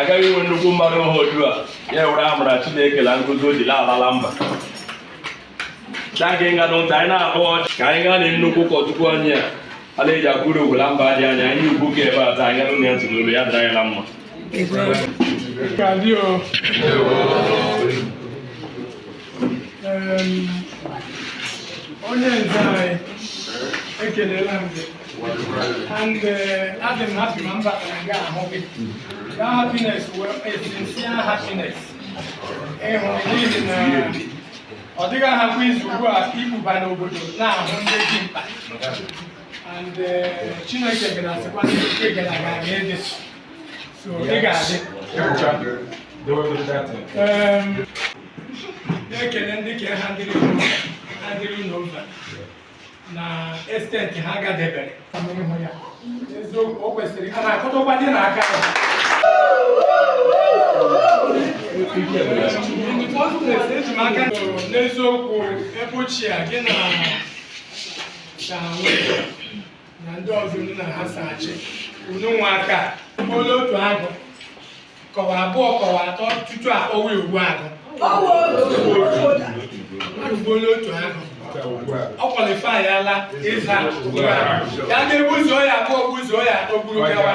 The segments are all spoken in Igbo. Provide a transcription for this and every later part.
agaghị inwe nnukwu mmadụ ha otu a ya were amara Chineke na nkụzi o jiri alala mba taa ka ịga n'ụta anyị na-akpọ ọchị ka anyị gaa na nnukwu ụkọchukwu anyị a a na-eji akwụrụ ogwula mba dị anya anyị ugwu ka ebe a taa anyị gee ya ntị n'olu ya dịrị anyị na mma onye nze anyị ekelela m gị and uh, adị m happy ma m batara gị ahụ gị ga happiness wụ sincere happiness ịhụ n'ihi na ọ dịghị ahapụ izu ugbu a ibuba n'obodo na-ahụ ndị dị mkpa and uh, chineke gara asịkwa ndị gara aga ga-ede So ị ga-adị. Em, Na-ekele ndị ka ha dịrị unu ha dịrị unu mba na esteti ha gadebere. Ịhụ ya. Eziokwu o kwesịrị ka na-akụtụkwa dị n'aka ya. Eji m aka n'eziokwu ebe ochie a gị na ka nwee na ndị ọzọ unu na ha so achị unu nwa aka gbuola otu agụ ka ọ wụ abụọ ka ọ wụ atọ tutu akpọwa ogbu agụ o gbuola otu agụ ọ qualify ala ịza ya ga-egbuzuo ya abụọ gbuzuo ya atọ gburu gawa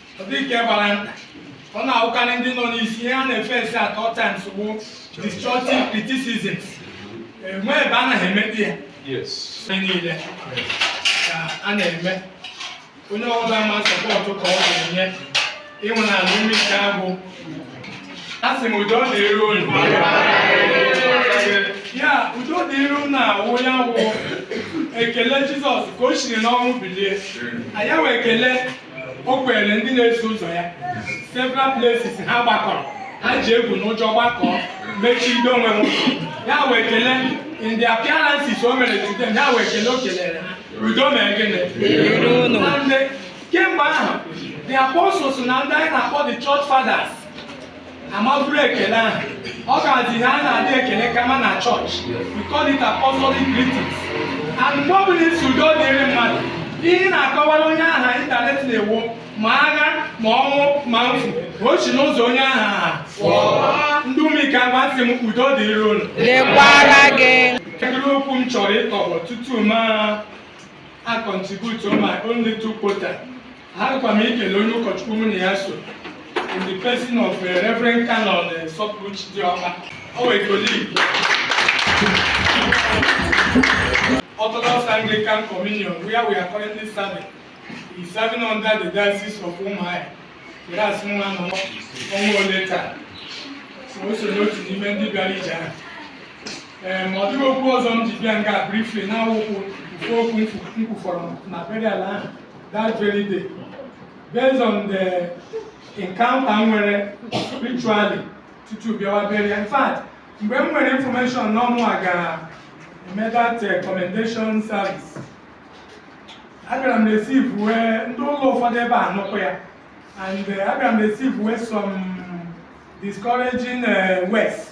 dike gbara nta ọ na-awụkarị ndị nọ n'isi ihe ha na-face at all times bụ destructive criticism enwe ebe a naghị emekpe ya niile ka a na-eme onye ọbụla ma support ka ọ ga-enye even na ala Ụmụikeagwụ asị m udo dịru unu ya udo dịru unu a wụ ya wụ ekele jizọs ka o siri n'ọnwụ bilie ya wụ ekele o kelere ndị na-eso ụzọ ya several places ha gbakọrọ ha ji egwu na ụjọ gbakọọ mechibido onwe ha ụzọ ya wụ ekele in the appearances o mere to them ya wụ ekele o kelere ha udo mee gịnị and kemgbe ahụ the apostles na ndị anyị na-akpọ the church fathers amaburu ekele ahụ ọ ga-adị na a na-adị ekele kama na chọọchị we call it apostolic greetings and mgbe ọ bụla ị sị udo dịrị mmadụ ihe ị na-akọwara onye aha internally wụ ma agha ma ọnwụ ma mfu o si n'ụzọ onye aha ha pụọ ndị Ụmụikeagwụ asị m udo dịrị unu dịkwara gị Kedụ okwu m chọrọ ịtọgbọ tutu m contribute my own little quota Agakwa m ikele onye ụkọchukwu mụ na ya so in the person of uh, Reverend Canon uh, Sọpụrụchi Diọkpa our colleague Orthodox Anglican Communion where we are currently serving is serving under the diocese of Umuahia were asị nwa nọ ọnwa ole taa so o so n'otu n'ime ndị bịara ije ahụ ee ma ọ dịghị okwu ọzọ m ji bịa nga briefly na-awụkwụ mfe okwu m kwufọrọ na burial ahụ that very day based on the encounter m nwere spiritually tutu bịawa burial in fact mgbe m nwere information na ọ mụwa ga-eme that eh, commendation service abịara m receivewe ndị ụlọ ụfọdụ ebe a nụkwa ya and eh, abịara m receivewe some discouraging eh, words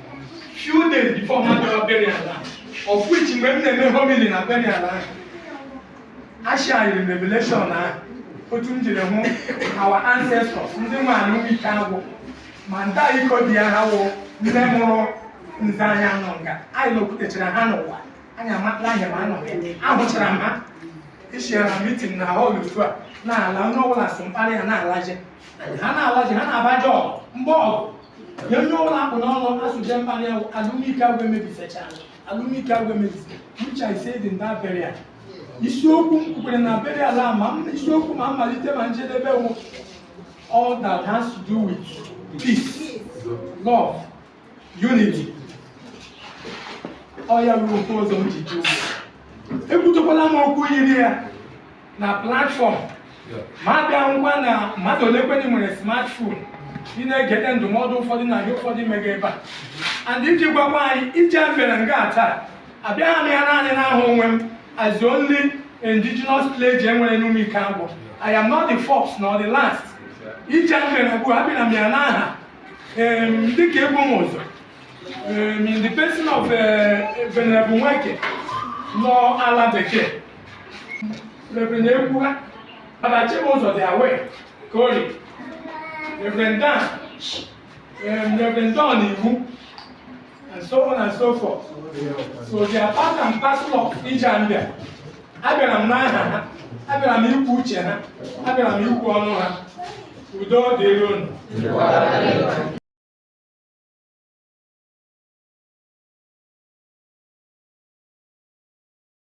few days before m abịara burial a of which mgbe m na-eme homily na burial ahụ I shared revelation na otu m jiri hụ our ancestors ndị nwe ala Ụmụikeagwụ ma nta iko dị ya ha wụ nne mụrụ nze anyị anọ nga anyị nọkwutechara ha n'ụwa anyị amatala ahịa ma anọ ahụchara m ha isiara mitin na họl otu a na-ala onye ọbụla sụ mkpara ha na-alaje ha na-alaje ha na-abaje ọgụ mgbe ọgụ nye onye ọbụla akpụ n'ọnụ asụje mkpara ahụ ala Ụmụikeagwụ emebisecha ala Ụmụikeagwụ emebise which I said in that burial isiokwu m kwukwere na burial a ma m- isiokwu ma mmalite ma njedebe wụ all that has to do with peace love unity ọ ya ruru ofe ọzọ m ji jụ ekwutekwala m okwu yiri ya na platfọm ma abịa ngwa na mmadụ ole kwenye nwere smartphone ị na-egete ndụmọdụ ụfọdụ na ihe ụfọdụ mega ebe a and iji gwakwa anyị ije mere nga taa abịaghị m ya naanị n'aha onwe m as the only indigenous clergy e nwere n'Ụmụikeagwụ I am not the first nor the last ije mere bụ abịara m ya n'aha ndị ka ebu m ụzọ in the person of eh, Venerable Nweke nọ ala bekee Reverend Ekwuha, Baba Chibuzor the, our colleague. Reverend Dan, um, Reverend Don Iwu, and so on and so forth. So they are part and parcel of ije a m bịa. Abịara m n'aha ha, abịara m ikwu uche ha, abịara m ikwu ọnụ ha. Udo dịrị unu.